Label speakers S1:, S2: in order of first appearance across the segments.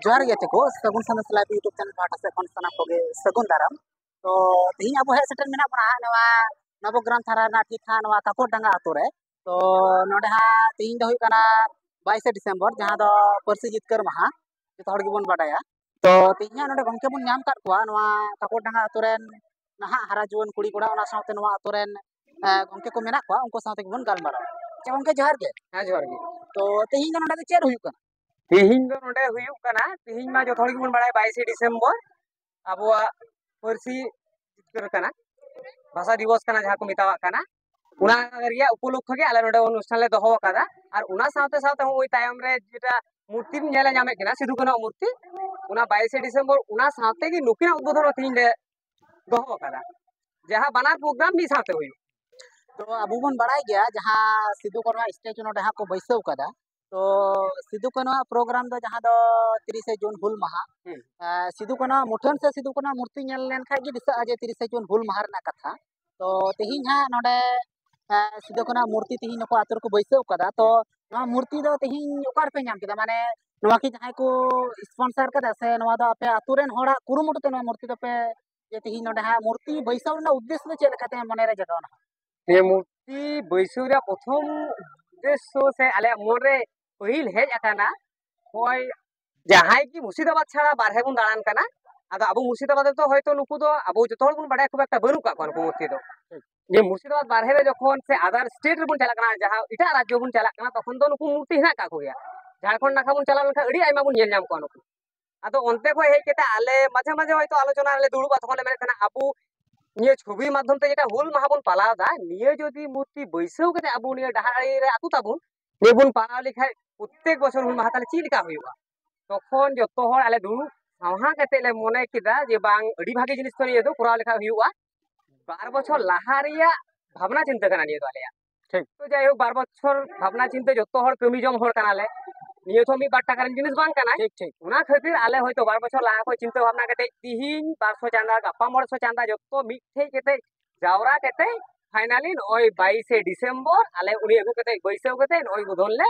S1: ᱡᱚᱦᱟᱨ ᱜᱮ ᱛᱮᱠᱚ Sagun Sandesh live YouTube channel ᱯᱟᱦᱴᱟ ᱥᱮᱫ ᱠᱷᱚᱱ ᱥᱟᱱᱟᱢ ᱠᱚᱜᱮ ᱥᱟᱹᱜᱩᱱ ᱫᱟᱨᱟᱢ ᱛᱚ ᱛᱮᱦᱮᱧ ᱟᱵᱚ ᱦᱮᱡ ᱥᱮᱴᱮᱨ ᱢᱮᱱᱟᱜ ᱵᱚᱱᱟ ᱱᱚᱣᱟ ᱱᱚᱵᱚᱜᱨᱟᱢ ᱛᱷᱟᱱᱟ ᱨᱮᱱᱟᱜ ᱴᱷᱤᱠ ᱦᱟᱸᱜ ᱱᱚᱣᱟ ᱠᱟᱠᱚᱨ ᱰᱟᱸᱜᱟ ᱟᱛᱳ ᱨᱮ ᱛᱚ ᱱᱚᱰᱮ ᱦᱟᱸᱜ ᱛᱮᱦᱮᱧ ᱫᱚ ᱦᱩᱭᱩᱜ ᱠᱟᱱᱟ ᱵᱟᱭᱤᱥᱮ ᱰᱤᱥᱮᱢᱵᱚᱨ ᱡᱟᱦᱟᱸ ᱫᱚ ᱯᱟᱹᱨᱥᱤ ᱡᱤᱛᱠᱟᱹᱨ ᱢᱟᱦᱟ ᱡᱚᱛᱚ ᱦᱚᱲ ᱜᱮᱵᱚᱱ ᱵᱟᱰᱟᱭᱟ ᱛᱚ ᱛᱮᱦᱮᱧ ᱦᱟᱸᱜ ᱱᱚᱰᱮ ᱜᱚᱢᱠᱮ ᱵᱚᱱ ᱧᱟᱢ ᱠᱟᱫ ᱠᱚᱣᱟ ᱱᱚᱣᱟ ᱠᱟᱠᱚᱨ ᱰᱟᱸᱜᱟ ᱟᱛᱳ ᱨᱮᱱ ᱱᱟᱦᱟᱜ ᱦᱟᱨᱟ ᱡᱩᱣᱟᱹᱱ ᱠᱩᱲᱤ ᱠᱚᱲᱟ ᱚᱱᱟ ᱥᱟᱶᱛᱮ ᱱᱚᱣᱟ ᱟᱛᱳ ᱨᱮᱱ ᱜᱚᱢᱠᱮ ᱠᱚ ᱢᱮᱱᱟᱜ ᱠᱚᱣᱟ ᱩᱱᱠᱩ ᱥᱟᱶᱛᱮ ᱜᱮᱵᱚᱱ ᱜᱟᱞᱢᱟᱨᱟᱣᱟ ᱟᱪᱪᱷᱟ ᱜᱚᱢᱠᱮ ᱡᱚᱦᱟᱨ ᱜᱮ ᱦᱮᱸ ᱡᱚᱦᱟᱨ ᱜᱮ ᱛᱚ ᱛᱮᱦᱮᱧ ᱫᱚ ᱱᱚᱰᱮ ᱫᱚ ᱪᱮᱫ ᱦᱩᱭᱩᱜ ᱠᱟᱱᱟ ᱛᱮᱦᱤᱧ ᱫᱚ ᱱᱚᱰᱮ ᱦᱩᱭᱩᱜ ᱠᱟᱱᱟ ᱛᱮᱦᱤᱧ ᱢᱟ ᱡᱚᱛᱚ ᱦᱚᱲ ᱜᱮᱵᱚᱱ ᱵᱟᱲᱟᱭᱟ ᱵᱟᱭᱤᱥᱮ ᱰᱤᱥᱮᱢᱵᱚᱨ ᱟᱵᱚᱣᱟᱜ ᱯᱟᱹᱨᱥᱤ ᱡᱤᱛᱠᱟᱹᱨ ᱠᱟᱱᱟ ᱵᱷᱟᱥᱟ ᱫᱤᱵᱚᱥ ᱠᱟᱱᱟ ᱡᱟᱦᱟᱸ ᱠᱚ ᱢᱮᱛᱟᱣᱟᱜ ᱠᱟᱱᱟ ᱚᱱᱟ ᱨᱮᱭᱟᱜ ᱩᱯᱚᱞᱚᱠᱠᱷᱚ ᱜᱮ ᱟᱞᱮ ᱱᱚᱰᱮ ᱚᱱᱩᱥᱴᱷᱟᱱ ᱞᱮ ᱫᱚᱦᱚ ᱟᱠᱟᱫᱟ ᱟᱨ ᱚᱱᱟ ᱥᱟᱶᱛᱮ ᱥᱟᱶᱛᱮ ᱱᱚᱜᱼᱚᱭ ᱛᱟᱭᱚᱢ ᱨᱮ ᱡᱮᱴᱟ ᱢᱩᱨᱛᱤᱢ ᱧᱮᱞ ᱧᱟᱢᱮᱫ ᱠᱟᱱᱟ ᱥᱤᱫᱩ ᱠᱟᱹᱱᱦᱩ ᱢᱩᱨᱛᱤ ᱚᱱᱟ ᱵᱟᱭᱤᱥᱮ ᱰᱤᱥᱮᱢᱵᱚᱨ ᱚᱱᱟ ᱥᱟᱶᱛᱮ ᱜᱮ ᱱᱩᱠᱤᱱᱟᱜ ᱩᱫᱵᱳᱫᱷᱚᱱ ᱦᱚᱸ ᱛᱮᱦᱤᱧ ᱞᱮ ᱫᱚᱦᱚ ᱟᱠᱟᱫᱟ ᱡᱟᱦᱟᱸ ᱵᱟᱱᱟᱨ ᱯᱨᱳᱜᱨᱟᱢ ᱢᱤᱫ ᱥᱟᱶᱛᱮ ᱦᱩᱭᱩᱜ ᱛᱚ ᱟᱵᱚ ᱵᱚᱱ ᱵᱟᱲᱟᱭ ᱜᱮᱭᱟ ᱡᱟᱦᱟᱸ ᱥᱤᱫᱩ ᱠᱟᱹᱱᱦᱩ ᱥᱴᱮᱪᱩ ᱱᱚᱰᱮ ᱦᱟᱸᱜ ᱠᱚ ᱵᱟᱹᱭᱥᱟᱹᱣ ᱠᱟᱫᱟ ᱛᱚ ᱥᱤᱫᱩ ᱠᱟᱹᱱᱩ ᱟᱜ ᱯᱨᱳᱜᱨᱟᱢ ᱫᱚ ᱡᱟᱦᱟᱸ ᱫᱚ ᱛᱤᱨᱤᱥᱮ ᱡᱩᱱ ᱦᱩᱞ ᱢᱟᱦᱟ ᱥᱤᱫᱩ ᱠᱟᱹᱱᱩ ᱟᱜ ᱢᱩᱴᱷᱟᱹᱱ ᱥᱮ ᱥᱤᱫᱩ ᱠᱟᱹᱱᱩ ᱟᱜ ᱢᱩᱨᱛᱤ ᱧᱮᱞ ᱞᱮᱱᱠᱷᱟᱱ ᱜᱮ ᱫᱤᱥᱟᱹᱜᱼᱟ ᱡᱮ ᱛᱤᱨᱤᱥᱮ ᱡᱩᱱ ᱦᱩᱞ ᱢᱟᱦᱟ ᱨᱮᱱᱟᱜ ᱠᱟᱛᱷᱟ ᱛᱚ ᱛᱮᱦᱮᱧ ᱦᱟᱸᱜ ᱱᱚᱰᱮ ᱥᱤᱫᱩ ᱠᱟᱹᱱᱩ ᱟᱜ ᱢᱩᱨᱛᱤ ᱛᱮᱦᱮᱧ ᱱᱩᱠᱩ ᱟᱛᱳ ᱨᱮᱠᱚ ᱵᱟᱹᱭᱥᱟᱹᱣ ᱠᱟᱫᱟ ᱛᱚ ᱱᱚᱣᱟ ᱢᱩᱨᱛᱤ ᱫᱚ ᱛᱮᱦᱮᱧ ᱚᱠᱟ ᱨᱮᱯᱮ ᱧᱟᱢ ᱠᱮᱫᱟ ᱢᱟᱱᱮ ᱱᱚᱣᱟ ᱠᱤ ᱡᱟᱦᱟᱸᱭ ᱠᱚ ᱥᱯᱚᱱᱥᱟᱨ ᱠᱟᱫᱟ ᱥᱮ ᱱᱚᱣᱟ ᱫᱚ ᱟᱯᱮ ᱟᱛᱳ ᱨᱮᱱ ᱦᱚᱲᱟᱜ ᱠᱩᱨᱩᱢᱩᱴᱩ ᱛᱮ ᱱᱚᱣᱟ ᱢᱩᱨᱛᱤ ᱫᱚᱯᱮ ᱡᱮ ᱛᱮᱦᱮᱧ ᱱᱚᱰᱮ ᱦᱟᱸᱜ ᱢᱩᱨᱛᱤ ᱵᱟᱹᱭᱥᱟᱹᱣ ᱨᱮᱱᱟᱜ ᱩᱫᱽᱫᱮᱥᱥᱚ ᱫᱚ ᱪᱮᱫ ᱞᱮᱠᱟᱛᱮ ᱢᱚᱱᱮᱨᱮ ᱡᱟᱜᱟᱣᱱᱟ ᱱᱤᱭᱟᱹ ᱢᱩᱨᱛᱤ ᱵᱟᱹᱭᱥᱟᱹᱣ ᱨᱮᱭᱟᱜ ᱯᱨᱚᱛᱷᱚᱢ ᱩᱫᱽᱫᱮᱥᱥᱚ ᱥᱮ ᱟᱞᱮᱭᱟᱜ ᱢᱚᱱᱨᱮ ᱯᱟᱹᱦᱤᱞ ᱦᱮᱡ ᱟᱠᱟᱱᱟ ᱦᱚᱭ ᱡᱟᱦᱟᱸᱭ ᱜᱮ ᱢᱩᱨᱥᱤᱫᱟᱵᱟᱫ ᱪᱷᱟᱲᱟ ᱵᱟᱨᱦᱮ ᱵᱚᱱ ᱫᱟᱬᱟᱱ ᱠᱟᱱᱟ ᱟᱫᱚ ᱟᱵᱚ ᱢᱩᱨᱥᱤᱫᱟᱵᱟᱫ ᱨᱮᱫᱚ ᱦᱚᱭᱛᱚ ᱱᱩᱠᱩ ᱫᱚ ᱟᱵᱚ ᱡᱚᱛᱚ ᱦᱚᱲ ᱵᱚᱱ ᱵᱟᱲᱟᱭᱟ ᱠᱷᱩᱵ ᱮᱠᱴᱟ ᱵᱟᱹᱱᱩᱜ ᱠᱟᱜ ᱠᱚᱣᱟ ᱱᱩᱠᱩ ᱢᱩᱨᱛᱤ ᱫᱚ ᱱᱤᱭᱟᱹ ᱢᱩᱨᱥᱤᱫᱟᱵᱟᱫ ᱵᱟᱨᱦᱮ ᱨᱮ ᱡᱚᱠᱷᱚᱱ ᱥᱮ ᱟᱫᱟᱨ ᱥᱴᱮᱴ ᱨᱮᱵᱚᱱ ᱪᱟᱞᱟᱜ ᱠᱟᱱᱟ ᱡᱟᱦᱟᱸ ᱮᱴᱟᱜ ᱨᱟᱡᱽᱡᱚ ᱵᱚᱱ ᱪᱟᱞᱟᱜ ᱠᱟᱱᱟ ᱛᱚᱠᱷᱚᱱ ᱫᱚ ᱱᱩᱠᱩ ᱢᱩᱨᱛᱤ ᱦᱮᱱᱟᱜ ᱠᱟᱜ ᱠᱚᱜᱮᱭᱟ ᱡᱷᱟᱲᱠᱷᱚᱸᱰ ᱱᱟᱠᱷᱟ ᱵᱚᱱ ᱪᱟᱞᱟᱣ ᱞᱮᱱᱠᱷᱟᱱ ᱟᱹᱰᱤ ᱟᱭᱢᱟ ᱵᱚᱱ ᱧᱮᱞ ᱧᱟᱢ ᱠᱚᱣᱟ ᱱᱩᱠᱩ ᱟᱫᱚ ᱚᱱᱛᱮ ᱠᱷᱚᱱ ᱦᱮᱡ ᱠᱟᱛᱮ ᱟᱞᱮ ᱢᱟᱡᱷᱮ ᱢᱟᱡᱷᱮ ᱦᱚᱭᱛᱳ ᱟᱞᱳᱪᱚᱱᱟ ᱨᱮᱞᱮ ᱫᱩᱲᱩᱵᱼᱟ ᱛᱚᱠᱷᱚᱱ ᱞᱮ ᱢᱮᱱᱮᱫ ᱛᱟᱦᱮᱱᱟ ᱟᱵᱚ ᱱᱤᱭᱟᱹ ᱪᱷᱚᱵᱤ ᱢᱟᱫᱽᱫᱷᱚᱢ ᱛᱮ ᱡᱮᱴᱟ ᱦᱩᱞ ᱢᱟᱦᱟ ᱵᱚᱱ ᱯᱟᱞᱟᱣ ᱮᱫᱟ ᱱᱤᱭᱟᱹ ᱡᱩᱫᱤ ᱢᱩᱨᱛᱤ ᱵᱟᱹᱭᱥᱟᱹᱣ ᱠᱟᱛᱮ ᱟᱵᱚ ᱱᱤᱭᱟᱹ ᱰᱟᱦᱟᱨ ᱟᱲᱮ ᱨᱮ ᱟᱹᱛᱩ ᱛᱟᱵᱚᱱ ᱱᱤᱭᱟᱹ ᱵᱚᱱ ᱯᱟᱞᱟᱣ ᱞᱮᱠᱷᱟᱡ ᱯᱨᱚᱛᱮᱠ ᱵᱚᱪᱷᱚᱨ ᱦᱩᱞ ᱢᱟᱦᱟ ᱛᱟᱦᱞᱮ ᱪᱮᱫ ᱞᱮᱠᱟ ᱦᱩᱭᱩᱜᱼᱟ ᱛᱚᱠᱷᱚᱱ ᱡᱚᱛᱚ ᱦᱚᱲ ᱟᱞᱮ ᱫᱩᱲᱩᱵ ᱥᱟᱶᱦᱟ ᱠᱟᱛᱮ ᱞᱮ ᱢᱚᱱᱮ ᱠᱮᱫᱟ ᱡᱮ ᱵᱟᱝ ᱟᱹᱰᱤ ᱵᱷᱟᱜᱮ ᱡᱤᱱᱤᱥ ᱛᱚ ᱱᱤᱭᱟᱹ ᱫᱚ ᱠᱚᱨᱟᱣ ᱞᱮᱠᱷᱟᱡ ᱦᱩᱭᱩᱜᱼᱟ ᱵᱟᱨ ᱵᱚᱪᱷᱚᱨ ᱞᱟᱦᱟ ᱨᱮᱭᱟᱜ ᱵᱷᱟᱵᱽᱱᱟ ᱪᱤᱱᱛᱟᱹ ᱠᱟᱱᱟ ᱱᱤᱭᱟᱹ ᱫᱚ ᱟᱞᱮᱭᱟᱜ ᱴᱷᱤᱠ ᱛᱚ ᱡᱟᱭ ᱦᱳᱠ ᱵᱟᱨ ᱵᱚᱪᱷᱚᱨ ᱵᱷᱟᱵᱽᱱᱟ ᱪᱤᱱᱛᱟᱹ ᱡᱚᱛᱚ ᱦᱚᱲ ᱠᱟᱹᱢᱤ ᱡᱚᱝ ᱦᱚᱲ ᱠᱟᱱᱟᱞᱮ ᱱᱤᱭᱟᱹ ᱛᱚ ᱢᱤᱫ ᱵᱟᱨ ᱴᱟᱠᱟ ᱨᱮᱱ ᱡᱤᱱᱤᱥ ᱵᱟᱝ ᱠᱟᱱᱟ ᱴᱷᱤᱠ ᱴᱷᱤᱠ ᱚᱱᱟ ᱠᱷᱟᱹᱛᱤᱨ ᱟᱞᱮ ᱦᱚᱭᱛᱚ ᱵᱟᱨ ᱵᱚᱪᱷᱚᱨ ᱞᱟᱦᱟ ᱠᱷᱚᱱ ᱪᱤᱱᱛᱟᱹ ᱵᱷᱟᱵᱽᱱᱟ ᱠᱟᱛᱮ ᱛᱤᱦᱤᱧ ᱵᱟᱨᱥᱚ ᱪᱟᱸᱫᱟ ᱜᱟᱯᱟ ᱢᱚᱬᱮᱥᱚ ᱪᱟᱸᱫᱟ ᱡᱚᱛᱚ ᱢᱤᱫ ᱴᱷᱮᱡ ᱠᱟᱛᱮ ᱡᱟᱣᱨᱟ ᱠᱟᱛᱮ ᱯᱷᱟᱭᱱᱟᱞᱤ ᱱᱚᱜᱼᱚᱭ ᱵᱟᱭᱤᱥᱮ ᱰᱤᱥᱮᱢᱵᱚᱨ ᱟᱞᱮ ᱩᱱᱤ ᱟᱹᱜᱩ ᱠᱟᱛᱮ ᱵᱟᱹᱭᱥᱟᱹᱣ ᱠᱟᱛᱮ ᱱᱚᱜᱼᱚᱭ ᱩᱫᱷᱚᱱ ᱞᱮ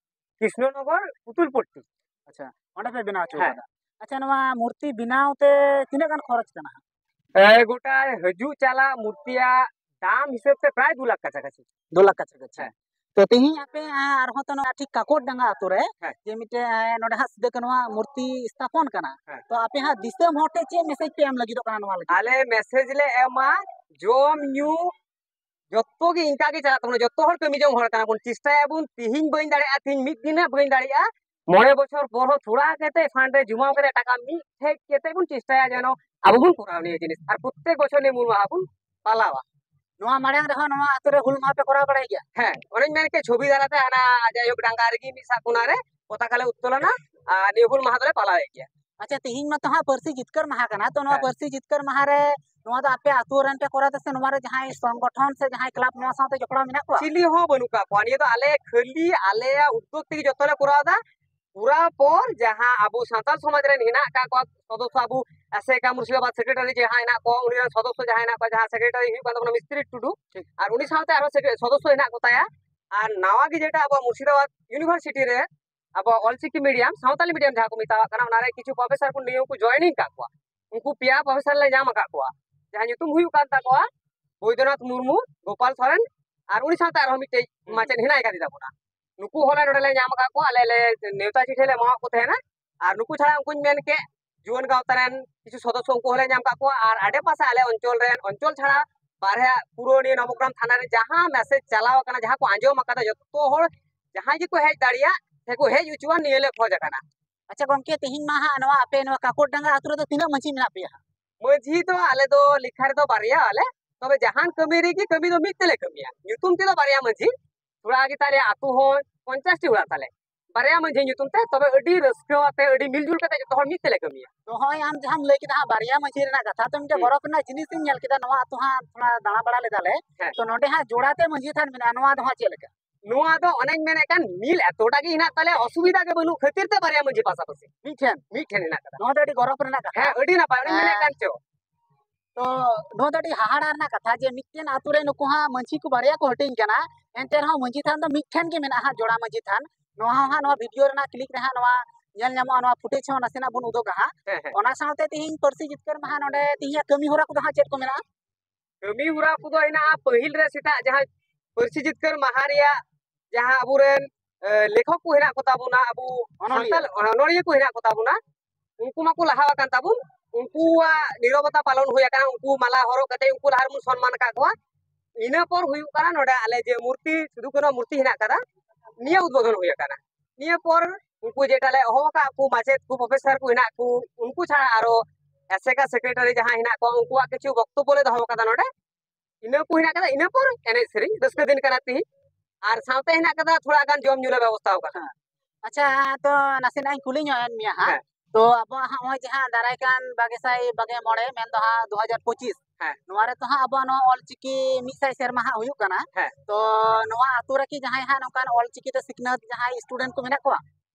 S1: ᱠᱨᱤᱥᱱᱚᱱᱚᱜᱚᱨ ᱯᱩᱛᱩᱞ ᱯᱚᱴᱴᱤ ᱟᱪᱪᱷᱟ ᱚᱸᱰᱮ ᱯᱮ ᱵᱮᱱᱟᱣ ᱦᱚᱪᱚ ᱟᱠᱟᱫᱟ ᱟᱪᱪᱷᱟ ᱱᱚᱣᱟ ᱢᱩᱨᱛᱤ ᱵᱮᱱᱟᱣ ᱛᱮ ᱛᱤᱱᱟᱹᱜ ᱜᱟᱱ ᱠᱷᱚᱨᱚᱪ ᱠᱟᱱᱟ ᱦᱟᱸᱜ ᱜᱚᱴᱟ ᱦᱤᱡᱩᱜ ᱪᱟᱞᱟᱜ ᱢᱩᱨᱛᱤᱭᱟᱜ ᱫᱟᱢ ᱦᱤᱥᱟᱹᱵ ᱛᱮ ᱯᱨᱟᱭ ᱫᱩ ᱞᱟᱠᱷ ᱠᱟᱪᱷᱟ ᱠᱟᱪᱷᱤ ᱫᱩ ᱞᱟᱠᱷ ᱠᱟᱪᱷᱟ ᱠᱟᱪᱷᱟ ᱛᱚ ᱛᱮᱦᱮᱧ ᱟᱯᱮ ᱟᱨᱦᱚᱸ ᱛᱚ ᱱᱚᱣᱟ ᱴᱷᱤᱠ ᱠᱟᱠᱚᱨ ᱰᱟᱸᱜᱟ ᱟᱛᱳ ᱨᱮ ᱡᱮ ᱢᱤᱫᱴᱮᱱ ᱱᱚᱰᱮ ᱦᱟᱸᱜ ᱥᱤᱫᱩ ᱠᱟᱹᱱᱩ ᱟᱜ ᱢᱩᱨᱛᱤ ᱥᱛᱷᱟᱯᱚᱱ ᱠᱟᱱᱟ ᱛᱚ ᱟᱯᱮ ᱦᱟᱸᱜ ᱫᱤᱥᱚᱢ ᱦᱚᱲ ᱴᱷᱮᱱ ᱪᱮᱫ ᱢᱮᱥᱮᱡ ᱯᱮ ᱮᱢ ᱞᱟᱹᱜᱤᱫᱚᱜ ᱠᱟᱱᱟ ᱱᱚᱣᱟ ᱞᱟᱹᱜᱤᱫ ᱟᱞᱮ ᱢᱮᱥᱮᱡ ᱞᱮ ᱮᱢᱟ ᱡᱚᱢ ᱧᱩ ᱡᱚᱛᱚ ᱜᱮ ᱤᱱᱠᱟ ᱜᱮ ᱪᱟᱞᱟᱜ ᱛᱟᱵᱚᱱᱟ ᱡᱚᱛᱚ ᱦᱚᱲ ᱠᱟᱹᱢᱤ ᱡᱚᱝ ᱦᱚᱲ ᱠᱟᱱᱟ ᱵᱚᱱ ᱪᱮᱥᱴᱟᱭᱟᱵᱚᱱ ᱛᱤᱦᱤᱧ ᱵᱟᱹᱧ ᱫᱟᱲᱮᱭᱟᱜᱼᱟ ᱛᱤᱦᱤᱧ ᱢᱤᱫ ᱫᱤᱱ ᱦᱟᱸᱜ ᱵᱟᱹᱧ ᱫᱟᱲᱮᱭᱟᱜᱼᱟ ᱢᱚᱬᱮ ᱵᱚᱪᱷᱚᱨ ᱯᱚᱨ ᱦᱚᱸ ᱛᱷᱚᱲᱟ ᱠᱟᱛᱮ ᱯᱷᱟᱱᱰ ᱨᱮ ᱡᱚᱢᱟᱣ ᱠᱟᱛᱮ ᱴᱟᱠᱟ ᱢᱤᱫ ᱴᱷᱮᱡ ᱠᱟᱛᱮ ᱵᱚᱱ ᱪᱮᱥᱴᱟᱭᱟ ᱡᱮᱱᱚ ᱟᱵᱚ ᱵᱚᱱ ᱠᱚᱨᱟᱣ ᱱᱤᱭᱟᱹ ᱡᱤᱱᱤᱥ ᱟᱨ ᱯᱨᱚᱛᱮᱠ ᱵᱚᱪᱷᱚᱨ ᱱᱤᱭᱟᱹ ᱢᱩᱞ ᱢᱟᱦᱟ ᱵᱚᱱ ᱯᱟᱞᱟᱣᱟ ᱱᱚᱣᱟ ᱢᱟᱲᱟᱝ ᱨᱮᱦᱚᱸ ᱱᱚᱣᱟ ᱟᱛᱳ ᱨᱮ ᱦᱩᱞ ᱢᱟᱦᱟ ᱯᱮ ᱠᱚᱨᱟᱣ ᱵᱟᱲᱟᱭ ᱜᱮᱭᱟ ᱦᱮᱸ ᱚᱱᱮᱧ ᱢᱮᱱ ᱠᱮᱫ ᱪᱷᱚᱵᱤ ᱫᱟᱨᱟᱛᱮ ᱦᱟᱱᱟ ᱡᱟᱭᱦᱳᱠ ᱰᱟᱝᱜᱟ ᱨᱮᱜᱮ ᱢᱤᱫ ᱥᱟᱜ ᱠᱚᱱᱟ ᱨᱮ ᱯᱚᱛᱟᱠᱟ ᱞᱮ ᱩᱛᱛᱳᱞᱚᱱᱟ ᱟᱨ ᱱᱤᱭᱟᱹ ᱦᱩᱞ ᱢᱟᱦᱟ ᱫᱚᱞᱮ ᱯᱟᱞᱟᱣᱮᱫ ᱜᱮᱭᱟ ᱟᱪᱪᱷᱟ ᱛᱮᱦᱮᱧ ᱢᱟᱛᱚ ᱦᱟᱸᱜ ᱯᱟᱹᱨᱥᱤ ᱡᱤᱛᱠᱟᱹᱨ ᱢᱟᱦᱟ ᱠᱟᱱᱟ ᱛᱚ ᱱᱚᱣᱟ ᱯᱟᱹᱨᱥᱤ ᱡᱤᱛᱠᱟᱹᱨ ᱢᱟᱦᱟ ᱨᱮ ᱱᱚᱣᱟ ᱫᱚ ᱟᱯᱮ ᱟᱹᱛᱩ ᱨᱮᱱ ᱯᱮ ᱠᱚᱨᱟᱣ ᱫᱟ ᱥᱮ ᱱᱚᱣᱟ ᱨᱮ ᱡᱟᱦᱟᱸᱭ ᱥᱚᱝᱜᱚᱴᱷᱚᱱ ᱥᱮ ᱡᱟᱦᱟᱸᱭ ᱠᱞᱟᱵ ᱱᱚᱣᱟ ᱥᱟᱶᱛᱮ ᱡᱚᱯᱲᱟᱣ ᱢᱮᱱᱟᱜ ᱠᱚᱣᱟ ᱪᱤᱞᱤ ᱦᱚᱸ ᱵᱟᱹᱱᱩᱜ ᱠᱟᱜ ᱠᱚᱣᱟ ᱱᱤᱭᱟᱹ ᱫᱚ ᱟᱞᱮ ᱠᱷᱟᱹᱞᱤ ᱟᱞᱮᱭᱟᱜ ᱩᱫᱽᱫᱳᱜᱽ ᱛᱮᱜᱮ ᱡᱚᱛᱚ ᱞᱮ ᱠᱚᱨᱟᱣ ᱫᱟ ᱯᱩᱨᱟ ᱯᱚᱨ ᱡᱟᱦᱟᱸ ᱟᱵᱚ ᱥᱟᱱᱛᱟᱲ ᱥᱚᱢᱟᱡᱽ ᱨᱮᱱ ᱦᱮᱱᱟᱜ ᱠᱟᱜ ᱠᱚᱣᱟ ᱥᱚᱫᱚᱥᱥᱚ ᱟᱵᱚ ᱟᱥᱮᱠᱟ ᱢᱩᱨᱥᱤᱫᱟᱵᱟᱫ ᱥᱮᱠᱨᱮᱴᱟᱨᱤ ᱡᱟᱦᱟᱸ ᱦᱮᱱᱟᱜ ᱠᱚᱣᱟ ᱩᱱᱤ ᱨᱮᱱ ᱥᱚᱫᱚᱥᱥᱚ ᱡᱟᱦᱟᱸ ᱦᱮᱱᱟᱜ ᱠᱚᱣᱟ ᱡᱟᱦᱟᱸ ᱥᱮᱠᱨᱮᱴᱟᱨᱤ ᱦᱩᱭᱩᱜ ᱠᱟᱱ ᱛᱟᱵᱚᱱᱟ ᱢᱤᱥᱛᱨᱤ ᱴᱩᱰᱩ ᱟᱨ ᱩᱱᱤ ᱥᱟᱶᱛᱮ ᱟᱨᱚ ᱥᱚᱫᱚᱥᱥᱚ ᱦᱮᱱᱟᱜ ᱠᱚᱛᱟᱭᱟ ᱟᱨ ᱱᱟᱣᱟ ᱜᱮ ᱡᱮᱴᱟ ᱟᱵᱚ ᱢᱩᱨᱥᱤᱫᱟᱵᱟᱫ ᱤᱭᱩᱱᱤᱵᱷᱟᱨᱥᱤᱴᱤ ᱨᱮ ᱟᱵᱚ ᱚᱞᱪᱤᱠᱤ ᱢᱤᱰᱤᱭᱟᱢ ᱥᱟᱶᱛᱟᱞᱤ ᱢᱤᱰᱤᱭᱟᱢ ᱡᱟᱦᱟᱸ ᱠᱚ ᱢᱮᱛᱟᱣᱟᱜ ᱠᱟᱱᱟ ᱚᱱᱟᱨᱮ ᱠᱤᱪᱷᱩ ᱯᱨᱚᱯᱷᱮᱥᱟᱨ ᱠᱚ ᱱᱤᱭᱚᱢ ᱠᱚ ᱡᱚᱭᱮᱱᱤᱝ ᱠᱟᱜ ᱠᱚᱣᱟ ᱩᱱᱠᱩ ᱯᱮᱭᱟ ᱯᱨᱚᱯᱷᱮᱥᱟᱨ ᱞᱮ ᱧᱟᱢ ᱟᱠᱟᱫ ᱠᱚᱣᱟ ᱡᱟᱦᱟᱸ ᱧᱩᱛᱩᱢ ᱦᱩᱭᱩᱜ ᱠᱟᱱ ᱛᱟᱠᱚᱣᱟ ᱵᱳᱭᱫᱚᱱᱟᱛᱷ ᱢᱩᱨᱢᱩ ᱜᱳᱯᱟᱞ ᱥᱚᱨᱮᱱ ᱟᱨ ᱩᱱᱤ ᱥᱟᱶᱛᱮ ᱟᱨᱦᱚᱸ ᱢᱤᱫᱴᱮᱡ ᱢᱟᱪᱮᱫ ᱦᱮᱱᱟᱭ ᱠᱟᱫᱮ ᱛᱟᱵᱚᱱᱟ ᱱᱩᱠᱩ ᱦᱚᱸᱞᱮ ᱱᱚᱰᱮ ᱞᱮ ᱧᱟᱢ ᱟᱠᱟᱫ ᱠᱚᱣᱟ ᱟᱞᱮ ᱞᱮ ᱱᱮᱣᱛᱟ ᱪᱤᱴᱷᱤ ᱞᱮ ᱮᱢᱟᱣᱟᱫ ᱠᱚ ᱛᱟᱦᱮᱱᱟ ᱟᱨ ᱱᱩᱠᱩ ᱪᱷᱟᱲᱟ ᱩᱱᱠᱩᱧ ᱢᱮᱱ ᱠᱮᱫ ᱡᱩᱣᱟᱹᱱ ᱜᱟᱶᱛᱟ ᱨᱮᱱ ᱠᱤᱪᱷᱩ ᱥᱚᱫᱚᱥᱥᱚ ᱩᱱᱠᱩ ᱦᱚᱸᱞᱮ ᱧᱟᱢ ᱠᱟᱜ ᱠᱚᱣᱟ ᱟᱨ ᱟᱰᱮ ᱯᱟᱥᱮ ᱟᱞᱮ ᱚᱧᱪᱚᱞ ᱨᱮᱱ ᱚᱧᱪᱚᱞ ᱪᱷᱟᱲᱟ ᱵᱟᱨᱦᱮ ᱯᱩᱨᱟᱹ ᱱᱤᱭᱟᱹ ᱱᱚᱵᱚᱜᱨᱟᱢ ᱛᱷᱟᱱᱟ ᱨᱮ ᱡᱟᱦᱟᱸ ᱢᱮᱥᱮᱡᱽ ᱪᱟᱞᱟᱣ ᱟᱠᱟᱱᱟ ᱡᱟᱦᱟᱸ ᱠᱚ ᱟᱸᱡᱚᱢ ᱟᱠᱟᱫᱟ ᱡᱚᱛᱚ ᱦᱚᱲ ᱡᱟᱦᱟᱸᱭ ᱜᱮᱠᱚ ᱦᱮᱡ ᱫᱟᱲᱮᱭᱟᱜ ᱥᱮᱠᱚ ᱦᱮᱡ ᱦᱚᱪᱚᱣᱟᱱ ᱱᱤᱭᱟᱹ ᱞᱮ ᱠᱷᱚᱡᱽ ᱟᱠᱟᱱᱟ ᱟᱪᱪᱷᱟ ᱜᱚᱢᱠᱮ ᱛᱮᱦᱮᱧ ᱢᱟ ᱦᱟᱸᱜ ᱱᱚᱣᱟ ᱟᱯᱮ ᱱᱚᱣᱟ ᱠᱟᱠᱚᱲ ᱰᱟᱸᱜᱟ ᱟᱹᱛᱩ ᱨᱮᱫᱚ ᱛᱤᱱᱟᱹᱜ ᱢᱟᱺᱡᱷᱤ ᱢᱮᱱᱟᱜ ᱯᱮᱭᱟ ᱢᱟᱺᱡᱷᱤ ᱫᱚ ᱟᱞᱮ ᱫᱚ ᱞᱮᱠᱷᱟ ᱨᱮᱫᱚ ᱵᱟᱨᱭᱟ ᱟᱞᱮ ᱛᱚᱵᱮ ᱡᱟᱦᱟᱱ ᱠᱟᱹᱢᱤ ᱨᱮᱜᱮ ᱠᱟᱹᱢᱤ ᱫᱚ ᱢᱤᱫ ᱛᱮᱞᱮ ᱠᱟᱹᱢᱤᱭᱟ ᱧᱩᱛᱩᱢ ᱛᱮᱫᱚ ᱵᱟᱨᱭᱟ ᱢᱟᱺᱡᱷᱤ ᱛᱷᱚᱲᱟ ᱜᱮ ᱛᱟᱞᱮ ᱟᱹᱛᱩ ᱦᱚᱸ ᱯᱚᱧᱪᱟᱥᱴᱤ ᱚᱲᱟᱜ ᱛᱟᱞᱮ ᱵᱟᱨᱭᱟ ᱢᱟᱹᱡᱷᱤ ᱧᱩᱛᱩᱢ ᱛᱮ ᱛᱚᱵᱮ ᱟᱹᱰᱤ ᱨᱟᱹᱥᱠᱟᱹ ᱟᱛᱮ ᱟᱹᱰᱤ ᱢᱤᱞᱡᱩᱞ ᱠᱟᱛᱮ ᱡᱚᱛᱚ ᱦᱚᱲ ᱢᱤᱫ ᱛᱮᱞᱮ ᱠᱟᱹᱢᱤᱭᱟ ᱛᱚ ᱦᱚᱸᱜᱼᱚᱭ ᱟᱢ ᱡᱟᱦᱟᱸᱢ ᱞᱟᱹᱭ ᱠᱮᱫᱟ ᱦᱟᱸᱜ ᱵᱟᱨᱭᱟ ᱢᱟᱹᱡᱷᱤ ᱨᱮᱱᱟᱜ ᱠᱟᱛᱷᱟ ᱛᱚ ᱢᱤᱫᱴᱮᱱ ᱜᱚᱨᱚᱵᱽ ᱨᱮᱱᱟᱜ ᱡᱤᱱᱤᱥ ᱤᱧ ᱧᱮᱞ ᱠᱮᱫᱟ ᱱᱚᱣᱟ ᱟᱛᱳ ᱦᱟᱸᱜ ᱛᱷᱚᱲᱟ ᱫᱟᱬᱟ ᱵᱟᱲᱟ ᱞᱮᱫᱟᱞᱮ ᱛᱚ ᱱᱚᱰᱮ ᱦᱟᱸᱜ ᱡᱳᱲᱟᱛᱮ ᱢᱟᱹᱡᱷᱤ ᱛᱷᱟᱱ ᱢᱮᱱᱟᱜᱼᱟ ᱱᱚᱣᱟ ᱫᱚ ᱦᱟᱸᱜ ᱪᱮᱫ ᱞᱮᱠᱟ ᱱᱚᱣᱟ ᱫᱚ ᱚᱱᱮᱧ ᱢᱮᱱᱮᱫ ᱠᱟᱱ ᱢᱤᱞ ᱮᱛᱚᱴᱟ ᱜᱮ ᱦᱮᱱᱟᱜ ᱛᱟᱞᱮ ᱚᱥᱩᱵᱤᱫᱷᱟ ᱜᱮ ᱵᱟᱹᱱᱩᱜ ᱠᱷᱟᱹᱛᱤᱨ ᱛᱮ ᱵᱟᱨᱭᱟ ᱢᱟᱹᱡᱷᱤ ᱯᱟᱥᱟᱯᱟᱥᱤ ᱢᱤᱫᱴᱷᱮᱱ ᱢᱤᱫᱴᱷᱮᱱ ᱦᱮᱱᱟᱜ ᱠᱟᱫᱟ ᱱᱚᱣᱟ ᱫᱚ ᱟᱹᱰᱤ ᱜᱚᱨᱚᱵᱽ ᱨᱮᱱᱟᱜ ᱠᱟᱛᱷᱟ ᱦᱮᱸ ᱟᱹᱰᱤ ᱱᱟᱯᱟᱭ ᱚᱱᱮᱧ ᱢᱮᱱᱮᱫ ᱠᱟᱱ ᱪᱚ ᱛᱚ ᱱᱚᱣᱟ ᱫᱚ ᱟᱹᱰᱤ ᱦᱟᱦᱟᱲᱟ ᱨᱮᱱᱟᱜ ᱠᱟᱛᱷᱟ ᱡᱮ ᱢᱤᱫᱴᱮᱱ ᱟᱛᱳ ᱨᱮ ᱱᱩᱠᱩ ᱦᱟᱸᱜ ᱢᱟᱹᱡᱷᱤ ᱠᱚ ᱵᱟᱨᱭᱟ ᱠᱚ ᱦᱟᱹᱴᱤᱧ ᱠᱟᱱᱟ ᱮᱱᱛᱮ ᱨᱮᱦᱚᱸ ᱢᱟᱹᱡᱷᱤ ᱛᱷᱟᱱ ᱫᱚ ᱢᱤᱫᱴᱷᱮᱱ ᱜᱮ ᱢᱮᱱᱟᱜᱼᱟ ᱦᱟᱸᱜ ᱡᱚᱲᱟ ᱢᱟᱹᱡᱷᱤ ᱛᱷᱟᱱ ᱱᱚᱣᱟ ᱦᱚᱸ ᱦᱟᱸᱜ ᱱᱚᱣᱟ ᱵᱷᱤᱰᱤᱭᱳ ᱨᱮᱱᱟᱜ ᱠᱞᱤᱯ ᱨᱮ ᱦᱟᱸᱜ ᱱᱚᱣᱟ ᱧᱮᱞ ᱧᱟᱢᱚᱜᱼᱟ ᱱᱚᱣᱟ ᱯᱷᱩᱴᱮᱡᱽ ᱦᱚᱸ ᱱᱟᱥᱮᱱᱟᱜ ᱵᱚᱱ ᱩᱫᱩᱜᱟ ᱦᱟᱸᱜ ᱚᱱᱟ ᱥᱟᱶᱛᱮ ᱛᱤᱦᱤᱧ ᱯᱟᱹᱨᱥᱤ ᱡᱤᱛᱠᱟᱹᱨ ᱢᱟᱦᱟ ᱱᱚᱰᱮ ᱛᱤᱦᱤᱧᱟᱜ ᱠᱟᱹᱢᱤ ᱦᱚᱨᱟ ᱠᱚᱫᱚ ᱦᱟᱸᱜ ᱪᱮᱫ ᱠᱚ ᱢᱮᱱᱟᱜᱼᱟ ᱠᱟᱹᱢᱤ ᱦᱚᱨᱟ ᱠᱚᱫᱚ ᱦᱮᱱᱟᱜᱼᱟ ᱯᱟᱹᱦᱤᱞ ᱨᱮ ᱥᱮᱛᱟᱜ ᱡᱟᱦᱟᱸ ᱯᱟᱹᱨᱥᱤ ᱡᱤᱛᱠᱟᱹᱨ ᱢᱟᱦᱟ ᱨᱮᱭᱟᱜ ᱡᱟᱦᱟᱸ ᱟᱵᱚᱨᱮᱱ ᱞᱮᱠᱷᱚᱠ ᱠᱚ ᱦᱮᱱᱟᱜ ᱠᱚᱛᱟ ᱵᱚᱱᱟ ᱟᱵᱚ ᱥᱟᱱᱛᱟᱲ ᱚᱱᱚᱞᱤᱭᱟᱹ ᱠᱚ ᱦᱮᱱᱟᱜ ᱠᱚᱛᱟ ᱵᱚᱱᱟ ᱩᱱᱠᱩ ᱢᱟᱠᱚ ᱞᱟᱦᱟ ᱟᱠᱟᱱ ᱛᱟᱵᱚᱱ ᱩᱱᱠᱩᱣᱟᱜ ᱱᱤᱨᱚᱵᱚᱛᱟ ᱯᱟᱞᱚᱱ ᱦᱩᱭ ᱟᱠᱟᱱᱟ ᱩᱱᱠᱩ ᱢᱟᱞᱟ ᱦᱚᱨᱚᱜ ᱠᱟᱛᱮ ᱩᱱᱠᱩ ᱞᱟᱦᱟ ᱨᱮᱵᱚᱱ ᱥᱚᱱᱢᱟᱱ ᱟᱠᱟᱫ ᱠᱚᱣᱟ ᱤᱱᱟᱹ ᱯᱚᱨ ᱦᱩᱭᱩᱜ ᱠᱟᱱᱟ ᱱᱚᱰᱮ ᱟᱞᱮ ᱡᱮ ᱢᱩᱨᱛᱤ ᱥᱤᱫᱩ ᱠᱟᱹᱱᱦᱩ ᱢᱩᱨᱛᱤ ᱦᱮᱱᱟᱜ ᱟᱠᱟᱫᱟ ᱱᱤᱭᱟᱹ ᱩᱫᱵᱳᱫᱷᱚᱱ ᱦᱩᱭ ᱟᱠᱟᱱᱟ ᱱᱤᱭᱟᱹ ᱯᱚᱨ ᱩᱱᱠᱩ ᱡᱮᱴᱟ ᱞᱮ ᱦᱚᱦᱚ ᱟᱠᱟᱫ ᱠᱚ ᱢᱟᱪᱮᱫ ᱠᱚ ᱯᱨᱚᱯᱷᱮᱥᱚᱨ ᱠᱚ ᱦᱮᱱᱟᱜ ᱠᱚ ᱩᱱᱠᱩ ᱪᱷᱟᱲᱟ ᱟᱨᱚ ᱮᱥᱮᱠᱟ ᱥᱮᱠᱨᱮᱴᱟᱨᱤ ᱡᱟᱦᱟᱸ ᱦᱮᱱᱟᱜ ᱠᱚᱣᱟ ᱩᱱᱠᱩᱣᱟᱜ ᱠᱤᱪᱷᱩ ᱵᱚᱠᱛᱚᱵᱽᱵᱚ ᱞᱮ ᱫᱚᱦᱚ ᱟᱠᱟᱫᱟ ᱱᱚᱰᱮ ᱤᱱᱟᱹ ᱠᱚ ᱦᱮᱱᱟᱜ ᱠᱟᱫᱟ ᱤᱱᱟᱹ ᱯᱚᱨ ᱮᱱᱮᱡ ᱥᱮᱨᱮᱧ ᱨᱟᱹᱥᱠᱟᱹ ᱫᱤᱱ ᱠᱟᱱᱟ ᱛᱤᱦᱤᱧ ᱟᱨ ᱥᱟᱶᱛᱮ ᱦᱮᱱᱟᱜ ᱠᱟᱫᱟ ᱛᱷᱚᱲᱟ ᱜᱟᱱ ᱡᱚᱢ ᱧᱩ ᱞᱮ ᱵᱮᱵᱚᱥᱛᱷᱟ ᱟᱠᱟᱫᱟ ᱟᱪᱪᱷᱟ ᱛᱚ ᱱᱟᱥᱮᱱᱟᱜ ᱤᱧ ᱠᱩᱞᱤ ᱧᱚᱜ ᱮᱱ ᱢᱮᱭᱟ ᱦᱟᱸᱜ ᱦᱮᱸ᱾ ᱛᱚ ᱟᱵᱚᱣᱟᱜ ᱦᱟᱸᱜ ᱱᱚᱜᱼᱚᱭ ᱡᱟᱦᱟᱸ ᱫᱟᱨᱟᱭ ᱠᱟᱱ ᱵᱟᱜᱮ ᱥᱟᱭ ᱵᱟᱜᱮ ᱢᱚᱬᱮ ᱢᱮᱱᱫᱚ ᱦᱟᱸᱜ ᱫᱩ ᱦᱟᱡᱟᱨ ᱯᱚᱸᱪᱤᱥ ᱦᱮᱸ᱾ ᱱᱚᱣᱟ ᱨᱮᱛᱚ ᱦᱟᱸᱜ ᱟᱵᱚᱣᱟᱜ ᱱᱚᱣᱟ ᱚᱞᱪᱤᱠᱤ ᱢᱤᱫ ᱥᱟᱭ ᱥᱮᱨᱢᱟ ᱦᱟᱸᱜ ᱦᱩᱭᱩᱜ ᱠᱟᱱᱟ ᱦᱮᱸ᱾ ᱛᱚ ᱱᱚᱣᱟ ᱟᱛᱳ ᱨᱮᱠᱤ ᱡᱟᱦᱟᱸᱭ ᱦᱟᱸᱜ ᱱᱚᱝᱠᱟᱱ ᱚᱞᱪᱤᱠᱤ ᱛᱮ ᱥᱤᱠᱷᱱᱟᱹᱛ ᱡᱟᱦᱟᱸᱭ ᱥᱴᱩᱰᱮᱱᱴ ᱠᱚ ᱢᱮᱱᱟᱜ ᱠᱚᱣᱟ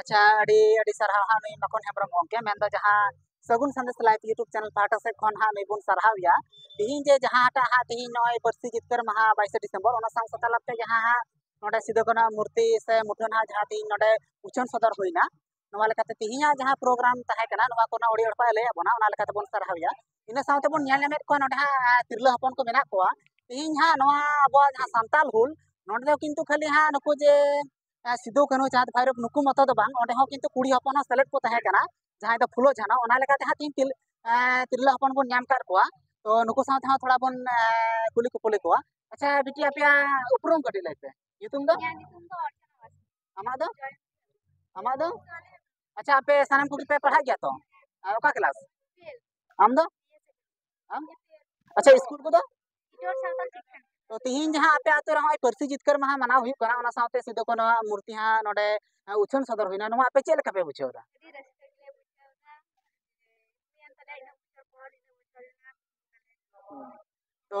S1: ᱟᱪᱪᱷᱟ ᱟᱹᱰᱤ ᱟᱹᱰᱤ ᱥᱟᱨᱦᱟᱣ ᱦᱟᱸᱜ ᱱᱩᱭ ᱢᱟᱠᱚᱱ ᱦᱮᱢᱵᱨᱚᱢ ᱜᱚᱢᱠᱮ ᱢᱮᱱᱫᱚ ᱡᱟᱦᱟᱸ Sagun Sandesh live YouTube channel ᱯᱟᱦᱴᱟ ᱥᱮᱫ ᱠᱷᱚᱱ ᱦᱟᱸᱜ ᱱᱩᱭ ᱵᱚᱱ ᱥᱟᱨᱦᱟᱣ ᱮᱭᱟ ᱛᱤᱦᱤᱧ ᱡᱮ ᱡᱟᱦᱟᱸᱴᱟᱜ ᱦᱟᱸᱜ ᱛᱤᱦᱤᱧ ᱱᱚᱜᱼᱚᱭ ᱯᱟᱹᱨᱥᱤ ᱡᱤᱛᱠᱟᱹᱨ ᱢᱟᱦᱟ ᱵᱟᱭᱤᱥᱮ ᱰᱤᱥᱮᱢᱵᱚᱨ ᱚᱱᱟ ᱥᱟᱶ ᱥᱟᱶ ᱛᱟᱞᱟᱛᱮ ᱡᱟᱦᱟᱸ ᱦᱟᱸᱜ ᱱᱚᱰᱮ ᱥᱤᱫᱩ ᱠᱟᱹᱱᱩ ᱟᱜ ᱢᱩᱨᱛᱤ ᱥᱮ ᱢᱩᱴᱷᱟᱹᱱ ᱦᱟᱸᱜ ᱡᱟᱦᱟᱸ ᱛᱤᱦᱤᱧ ᱱᱚᱰᱮ ᱩᱪᱷᱟᱹᱱ ᱥᱚᱫᱚᱨ ᱦᱩᱭᱱᱟ ᱱᱚᱣᱟ ᱞᱮᱠᱟᱛᱮ ᱛᱤᱦᱤᱧᱟᱜ ᱡᱟᱦᱟᱸ ᱯᱨᱳᱜᱨᱟᱢ ᱛᱟᱦᱮᱸ ᱠᱟᱱᱟ ᱱᱚᱣᱟ ᱠᱚᱨᱮᱱᱟᱜ ᱟᱹᱰᱤ ᱦᱚᱲ ᱠᱚ ᱞᱟᱹᱭᱟᱫ ᱵᱚᱱᱟ ᱚᱱᱟ ᱞᱮᱠᱟᱛᱮ ᱵᱚᱱ ᱥᱟᱨᱦᱟᱣ ᱮᱭᱟ ᱤᱱᱟᱹ ᱥᱟᱶᱛᱮ ᱵᱚᱱ ᱧᱮᱞ ᱧᱟᱢᱮᱫ ᱠᱚᱣᱟ ᱱᱚᱰᱮ ᱦᱟᱸᱜ ᱛᱤᱨᱞᱟᱹ ᱦᱚᱯᱚᱱ ᱠᱚ ᱢᱮᱱᱟᱜ ᱠᱚᱣᱟ ᱛᱤᱦᱤᱧ ᱦᱟᱸᱜ ᱱᱚᱣᱟ ᱟᱵᱚᱣᱟᱜ ᱡᱟᱦᱟᱸ ᱥᱟᱱᱛᱟᱞ ᱦᱩᱞ ᱱᱚᱰᱮ ᱫᱚ ᱠᱤᱱᱛᱩ ᱠᱷᱟᱹᱞᱤ ᱦᱟᱸᱜ ᱱᱩᱠᱩ ᱡᱮ ᱥᱤᱫᱩ ᱠᱟᱹᱱᱦᱩ ᱪᱟᱸᱫᱽ ᱵᱷᱟᱭᱨᱳ ᱱᱩᱠᱩ ᱢᱚᱛᱚ ᱫᱚ ᱵᱟᱝ ᱚᱸᱰᱮ ᱦᱚᱸ ᱠᱤᱱᱛᱩ ᱠᱩᱲᱤ ᱦᱚᱯᱚᱱ ᱦᱚᱸ ᱥᱮᱞᱮᱫ ᱠᱚ ᱛᱟᱦᱮᱸ ᱠᱟᱱᱟ ᱡᱟᱦᱟᱸᱭ ᱫᱚ ᱯᱷᱩᱞᱳ ᱡᱷᱟᱱᱚ ᱚᱱᱟ ᱞᱮᱠᱟᱛᱮ ᱦᱟᱸᱜ ᱛᱤᱦᱤᱧ ᱛᱤᱨᱞᱟᱹ ᱦᱚᱯᱚᱱ ᱵᱚᱱ ᱧᱟᱢ ᱠᱟᱫ ᱠᱚᱣᱟ ᱛᱚ ᱱᱩᱠᱩ ᱥᱟᱶᱛᱮ ᱦᱚᱸ ᱛᱷᱚᱲᱟ ᱵᱚᱱ ᱠᱩᱞᱤ ᱠᱩᱯᱩᱞᱤ ᱠᱚᱣᱟ ᱟᱪᱪᱷᱟ ᱵᱤᱴᱤ ᱟᱯᱮᱭᱟᱜ ᱩᱯᱨᱩᱢ ᱠᱟᱹᱴᱤᱡ ᱞᱟᱹᱭ ᱯᱮ ᱧᱩᱛᱩᱢ ᱫᱚ ᱟᱢᱟᱜ ᱫᱚ ᱟᱢᱟᱜ ᱫᱚ ᱟᱪᱪᱷᱟ ᱟᱯᱮ ᱥᱟᱱᱟᱢ ᱠᱚᱜᱮ ᱯᱮ ᱯᱟᱲᱦᱟᱜ ᱜᱮᱭᱟ ᱛᱚ ᱚᱠᱟ ᱠᱮᱞᱟᱥ ᱟᱢ ᱫᱚ ᱟᱪᱪᱷᱟ ᱤᱥᱠᱩᱞ ᱠᱚᱫᱚ ᱛᱚ ᱛᱤᱦᱤᱧ ᱡᱟᱦᱟᱸ ᱟᱯᱮ ᱟᱛᱳ ᱨᱮ ᱦᱚᱸᱜᱼᱚᱭ ᱯᱟᱹᱨᱥᱤ ᱡᱤᱛᱠᱟᱹᱨ ᱢᱟᱦᱟ ᱢᱟᱱᱟᱣ ᱦᱩᱭᱩᱜ ᱠᱟᱱᱟ ᱚᱱᱟ ᱥᱟᱶᱛᱮ ᱥᱤᱫᱩ ᱠᱟᱹᱱᱩ ᱟᱜ ᱢᱩᱨᱛᱤ ᱦᱟᱸᱜ ᱱᱚᱰᱮ ᱩᱪᱷᱟᱹᱱ ᱥᱚᱫᱚᱨ ᱦᱩᱭᱱᱟ ᱱᱚᱣᱟ ᱟᱯᱮ ᱪᱮᱫ ᱞᱮᱠᱟ ᱯᱮ ᱵᱩᱡᱷᱟᱹᱣ ᱮᱫᱟ ᱛᱚ